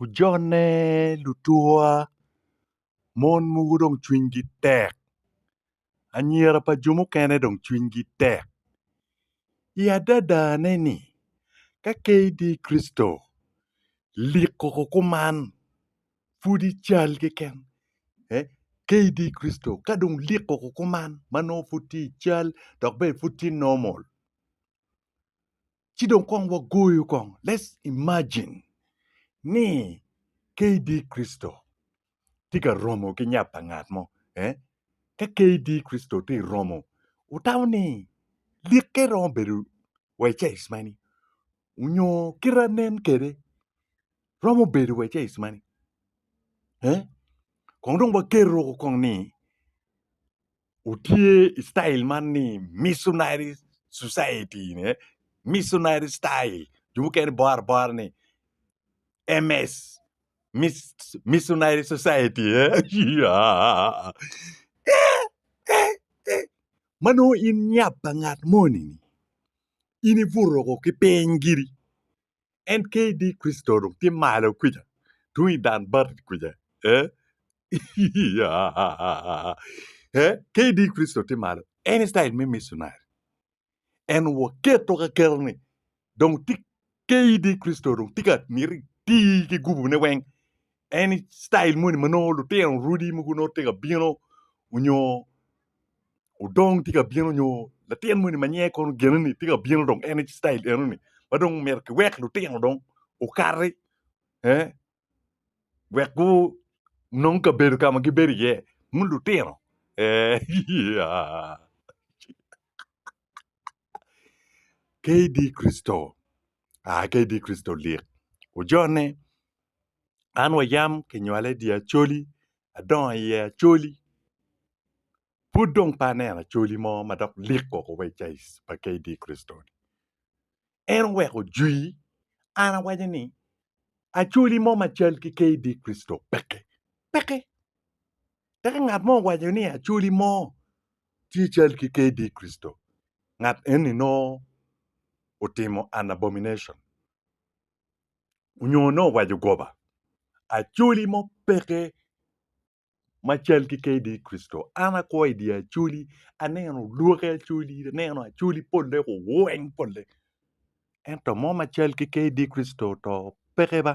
ojone lutuwa mon mogo dong cwinygi tek anyira pa jo mukene dong cwinygi tek i adadane ni ka ke idi Kricito lik koko kuman pud ical keken ke idi Kricito ka dong lik koko kuman ma nongo pud tye ical dok bene pud tye normal. Ci dong kong wagoyo kong, let's imagine ni KD Kricito tye ka romo ki nyap pa ngat mo, eh? Ka KD Kricito tye romo, wutamo ni likke romo bedo wa i caic mani? Onyo kita nen kede romo bedo wa i caic mani? Eh? Kong dong wageto kong ni Otye i citail man ni Missionary Society ne Missionary Style jo mukene bor abora ni MS Missionary Society ma nongo in nyap pa ngat moni in ibuto woko ki piny giri en KD Kricito dong tye malo kwija tung i dan bati kwija ee ee KD Kricito tye malo en citayil me micinari en waketo ka keto ni dong tye KD Kricito dong tye ka miti tii ki gubune weng En style moni ma nongo lutino odi mogo nongo tye ka bino onyo odong tye ka bino onyo latin moni ma nyinge kono gene-ni tye ka bino dong en aye style eno-ni ma dong myero kiwek lutino dong okati wek gunong kabedo ka ma gibedo iye wun lutino KD Christo aa KD Christo lik ojone. An wa yam kinywala i dye Acholi, adongo iye Acholi, pud dong pe aneno Acholi mo ma dok lik woko wa i Cais pa KD Kricito. En oweko jwi, an awaco ni Acholi mo ma cal ki KD Kricito peke, peke. Tek ka ngat mo owaco ni Acholi mo tye cal ki KD Kricito, ngat eni nongo otimo an abomination. onyo nongo owaco goba acholi mo peke ma cal ki kdi Kricito, an akwo i dye acholi, aneno lwoki acholi, aneno acholi pole kuweny pole, ento mo ma cal ki kdi Kricito to peke ba.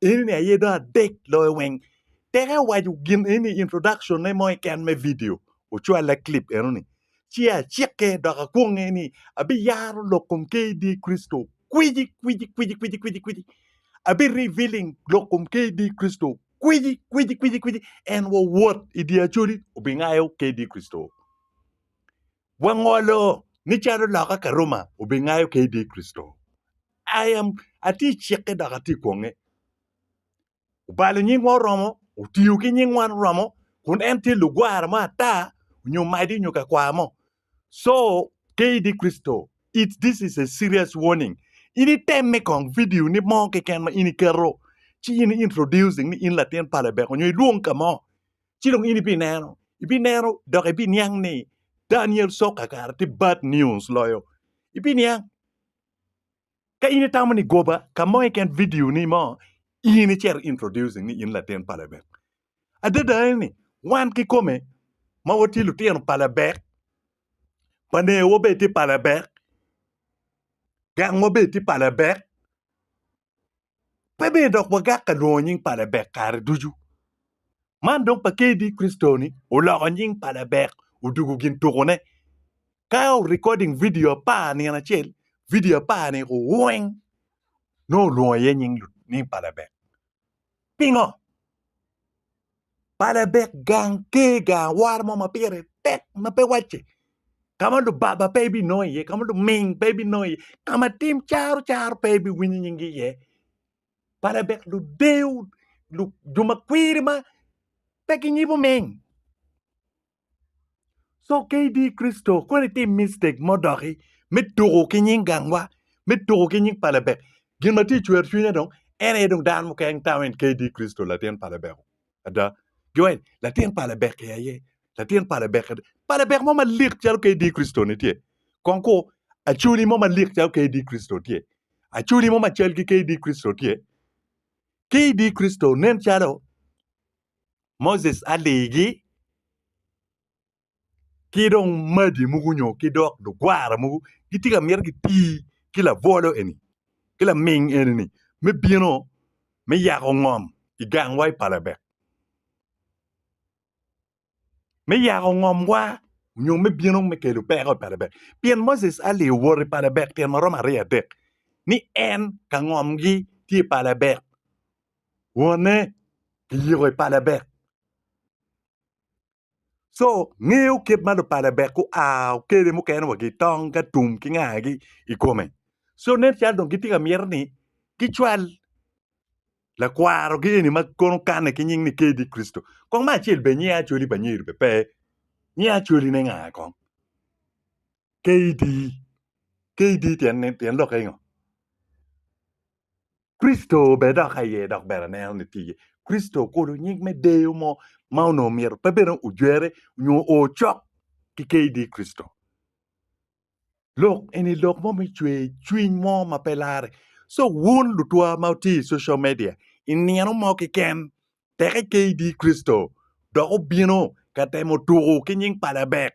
Eni ni aye dong adek loyo weng. Tek ewaco gin eni i introduction ne mo keken me vidio, ocwalle clip eno ni, Ci acikke dok akwonge ni abiyaro lok kom KD Kricito kwici kwici kwici kwici kwici kwici. Abi revealing lok kom KD Kricito kwici kwici kwici kwici. En wawot i dye Acholi obingayo KD Kricito. Wangolo ni calo loka ka Roma obingayo ka idye Kricito. I am, atye i cikke dok atye i kwonge. Obalo nyingwa oromo, otiyo ki nyingwa oromo, kun en tye lugwara mo ata, onyo madi onyo ka kwaya mo. So, ka idye Kricito, it's this is a serious warning. In itemme kong video ni mo keken ma in iketo, ci in introducing ni in latin pa Lebek onyo ilwong ka mo. ci dong in ibineno, ibineno dok ibiniang ni Daniel Sok kakare tye bad news loyo. Ibiniang. Ka in itamo ni goba ka mo keken video ni mo in icito introducing ni in latin pa Lebek. Adada ni wan kikome ma watye lutino pa Lebek, panewa bene tye pa Lebek, gangwa bene tye pa Lebek, pe ber dok wagak ka lwongo nying pa Labek kare ducu. Man dong pa KD Kristoni oloko nying pa Labek odwogo gin tukone. Kyle recording vidio apar nino acel, vidio apar-ni weng nongo olwongo iye nying pa Labek. Pingo? Pala dek gang ker gang awora mo ma pire tek ma pe wacce ka ma lubaba pe ibinongo iye ka ma luming pe ibinongo iye ka ma tim caro caro pe ibiwinyo nyingi iye pala dek ludewo jo ma kwiri ma pe ginyibo ming. So KD Kricito kong itim mistake mo doki me tuku ki nying gangwa, me tuku ki nying pa Lebek. Gin ma tye cwer cwinya dong en aye dong dano mukene nitamo en KD Kricito latin pa Lebeko. Ada. Giwaci ni latin pa Lebek i aye, latin pa Lebek ada. Pa Lebek mo malik calo KD Kricito ni tye. Kong ku Acholi mo malik calo KD Kricito tye. Acholi mo macal ki KD Kricito tye. KD Kricito nen calo Moses aligi ki dong magi mogo nyo ki dok lugwara mogo gitye ka miti giti ki labwolo eni ki laming eni ni me bino me yako ngom i gangwa i palabek me yako ngomwa nyo me bino me kelo peko i palabek pien Moses Ali owoto i palabek tyen ma romo aryo adek ni en ka ngomgi tye i palabek wonne kiyiko i pa Lebek. Co ngeyo kit ma lupa Lebek gua kwede mukene wa gitong ka tum ki ngagi i kome. Co nen calo dong gitye ka myero ni gicwal lakwarogi eni ma kono okanne ki nying ni KD Kricito. Kong me acel bene nying Acholi pa Nyeri bene pe. Nying Acoline nga kong? KD. KD tyen lokke ngo? Kricito bene dok aye dok ber aneno ni tye iye. Kricito okulo nyig me deyo mo ma onongo myero pe bene ojwere nyo o cok ki KD. Kricito lok eni lok mo me cwer cwiny mo ma pe larre. So wun lutwa ma wutye i social media i nino mo kiken teke KD. Kricito dok obino ka temo tuku ki nying pa labek.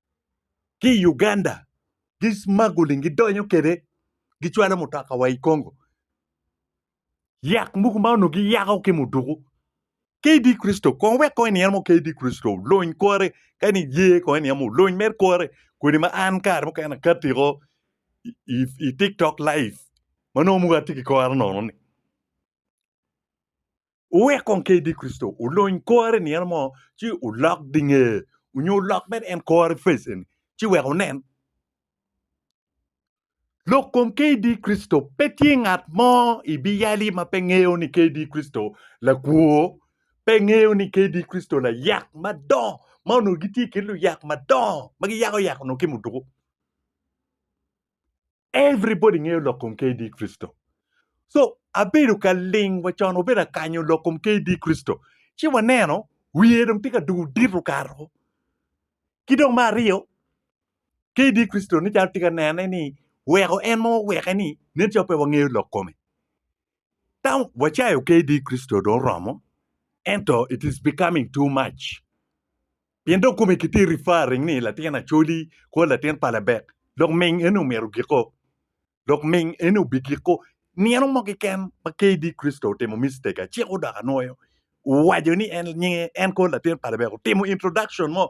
ki i Uganda gi smuggling gidonyo kwede gicwalo mutoka wa i Congo yak mogo ma onongo giyako ki muduku KD Christo kong wek kong iniang mo KD Christo oluny kore ka en iye kong iniang mo oluny mere kore kodi ma an kare mukene akatiko i tiktok live ma nongo mogo atye ki kore nono-ni. Wuwek kong ka idi Kricito, wulony kor i nino mo, ci wulok dinge, onyo wulok bene en kor i face eni, ci wek wunen. Lok kom ka idi Kricito, pe tye ngat mo i biyali ma pe ngeyo ni ka idi Kricito lakwo, pe ngeyo ni ka idi Kricito layak madongo, ma onongo gitye i kin luyak madongo ma giyako yako onongo ki muduku. Everybody ngeyo lok kom KD Kricito. So abedo ka ling wa con wabedo ka kanyo lok kom KD Kricito ci waneno wiye dong tye ka dugo dito kato. Ki dong me aryo KD Kricito ni calo tye ka nene ni weko en ma waweke ni nen calo pe wangeyo lok kome. Tam wacayo kdi i Kricito dong oromo, ento it is becoming too much. Pien dong kome kitye referring ni latin Acholi kor latin pa Labek, dok ming eni omito giko, dok ming eni obigiko nino mo keken ma kdi Kricito otimo mistake, aciko dok anwoyo. owaco ni en nyinge en kor latin pa Lebek otimo introduction mo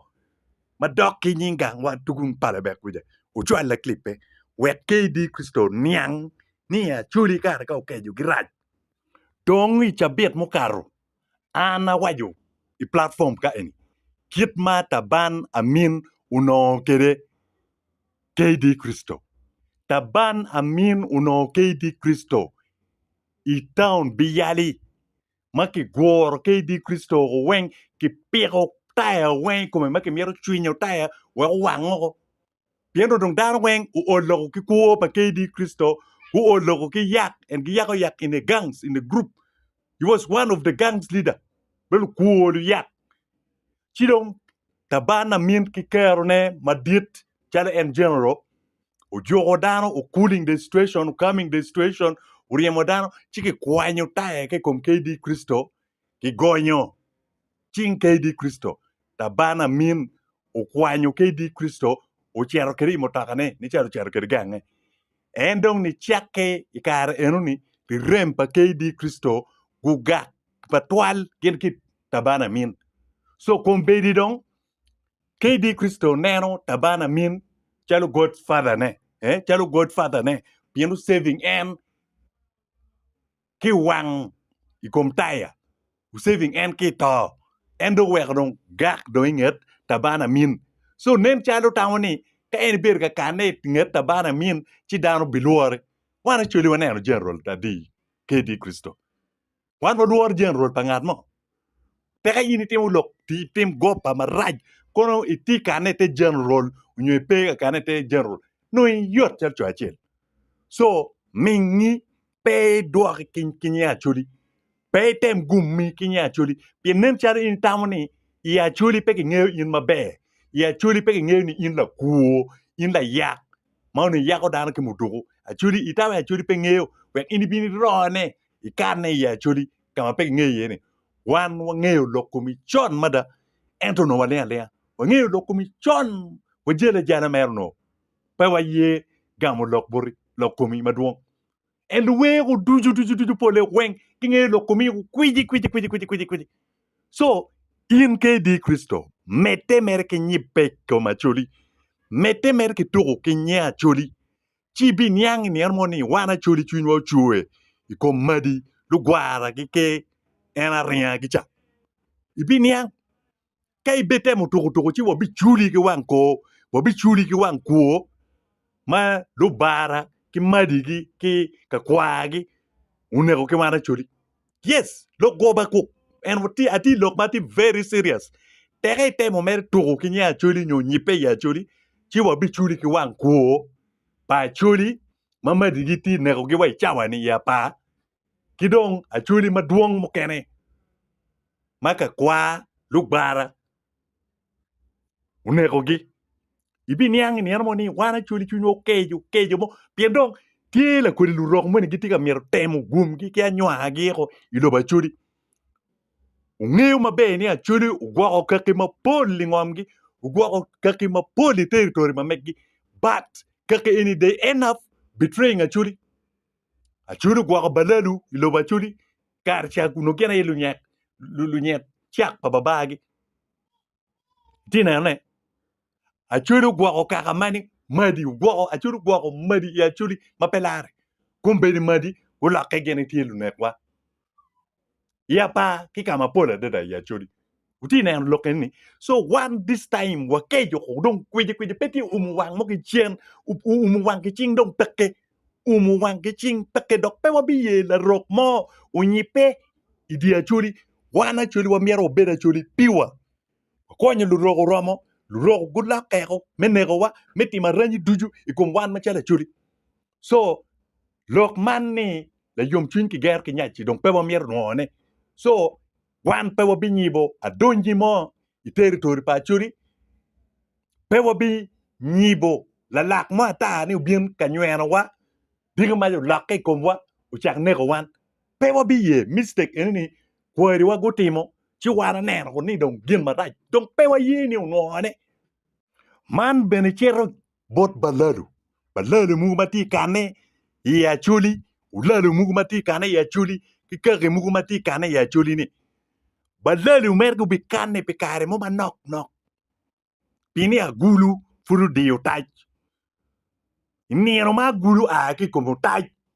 madok ki nying gangwa tugun pa Lebek kuca ocwal laklipe wek KD Christo oniang ni i Acholi kare ka okeco girac dong i cabit mukato an awaco i platform ka eni kit ma Taban Amin onongo kwede KD Christo. Taban Amin onongo KD Christo i taun Biyali ma kiguro ki idi Kricito oko weng kipiko taya weng i kome ma kimito cwinyo taya wek owang oko. Pien nongo dong dano weng ool loko ki kwo pa ke idi Kricito, guol loko ki yak, and giyako yak in a gangs, in a group. He was one of the gangs leader, me lukwo luyak. Ci dong, Tabana Min ki Kerone Madit, calo en General, ojuko dano, o cooling the situation, o calming the situation, oryemo dano, ci kikwanyo taya ki i kom KD Kricito, kigonyo cing KD Kricito. Tabana Min okwanyo KD Kricito, ocito kwede i mutokane, nicalo ocito kwede gange. En dong nicakke i kare eno-ni, rirem pa KD Kricito gugak matwal gin ki tabana amin. So kombeddi dong kadi Kricito neno tabana amin calo God Father ne, eh, calo God Father ne, pien oseving en ki wang i kom taya, oseving en ki to, en dong oweko dong gak dong i nget tabana amin. So nen calo tamo ni ka en ibedo ka kane i nget tabana amin ci dano bilwore. Wan actually waneno general adi kadi Kricito. Wan walworo Jeneral pa ngat mo? Peke in itimo lok itim goba marac kono itye kane ite Jeneral nyo ipe kane ite Jeneral nongo iyot calo co acel. Co mingi pe idwok ki nge Acholi, pe item gumi ki nge Acholi pien nen calo in itamo ni i Acholi pe kingeyo in maber, i Acholi pe kingeyo ni in lakwo, in layak ma onongo iyako dano ki muduku. Acholi itamo ni Acholi pe ngeyo wek in ibin irone i karene i Acholi ka ma pe kingeyo iye ni wan wangeyo lok komi con mada ento onongo waling alinga. Wangeyo lok komi con, wajale ajala mere onongo pe waye gamo lok boti, lok komi madwong. En luweku ducu ducu ducu pole weng kingeyo lok komi kwici kwici kwici kwici kwici kwici. So in ka idi i Kricito, medde mere ki nyibbe i kom Acholi, medde mere ki tuku ki nye Acholi, ci ibiniang i nino mo ni wan acoli cwinywa ocwe i kom madi, lugwara ki en aringa ki ca. Ibiniang ka ibitemo tukutuku ci wabiculi ki wang kor, wabiculi ki wang kwo ma lubara ki madigi ki kakwargi oneko ki wan acoli. Yes lok goba kuk and atye lok ma atye very serious teke itemo mere tuku ki nge acholi nyo nyipe i acholi ci wa bi culi ki wang kwo pa acholi ma madi gi tye neko gi wa i cawa ni i apa ki dong acholi madwong mukene ma ka kwa lugwara onekogi. Ibiniang i nino mo ni wan acwali cwinywa okeco keco mo pien dong tye lakodi lurok moni gitye ka myero temo gwomgi ki anywangagi eko i lobo acwali. Ongeyo maber ni acwali ogwoko kaki mapol i ngomgi ogwoko kaki mapol i territory ma megi but kaki eni they end up betraying acwali. Acwali ogwoko balalu i lobo acwali kare ca onongo gin aye lunyek lunyet cak pa babagi Itye neno ne? Acholi ogwoko kaka mani madi ogwoko acholi ogwoko madi i acholi ma pe lare. Kombedi madi gulokke gin itye lunekwa. I apa ki ka mapol adada i acholi. Wutye neno lok eni? So wan this time wakeco ko dong kwiji kwiji pe tye umu wang mo ki cen umu wang ki cing dong peke. umo wangi cing peke dok pe wabiye larok mo onyibbe i dye Acholi. Wan Acholi wamyero wabed Acholi piwa. Wakonyo lurok oromo, lurok gulok keko me nekowa, me timo aranyi ducu i kom wan macalo Acholi. So, lok man ni layomcwiny kigero ki nyaci dong pe wamyero nwoyo ne. So, Wan pe wabinyibo adongi mo i teritori pa Acodi, pe wabinyibo lalak mo ata ni obin ka nywenowa, diki mac olokke i komwa ocak neko wan. Pe wabiye mistake eni ni kwariwa gutimo ci wan waneno ni dong gin marac dong pe waye ni onwongone. Man bene cito bot balalo, balalo mogo ma tye ka kanne i Acholi, olalo mogo ma tye ka kanne i Acholi ki kaki mogo ma tye ka kanne i Acholi-ni. Balalo mere gubikanne pi kare mo manok nok pi ni agulu pud odiyo otac. I nino ma agulu oa ki i kom otac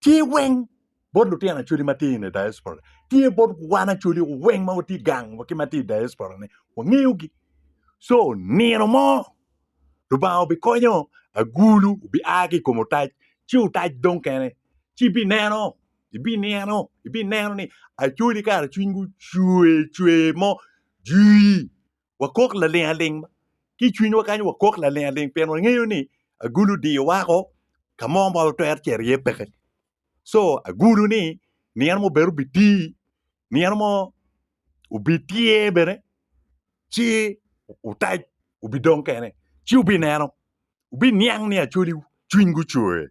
tye weng bot lutino acwali ma tye i diaspora tye bot wan acwali weng ma watye gang wa ki ma tye i diaspora ni wangeyogi co nino mo Lubanga obikonyo agulu obia ki i kom otac ci otac dong kene ci ibineno ibineno ibineno ni acwali kara cwinygi ocwer cwer mo jwii wakok laling aling ki i cwinywa kany wakok laling aling pien wangeyo ni agulu odiyo wako ka mo ma watwero cito iye peke co agulu ni nino mo bene obitir nino mo obitye bene ci otac obidong kene ci wubineno wubiniang ni acwali cwiny gucwer.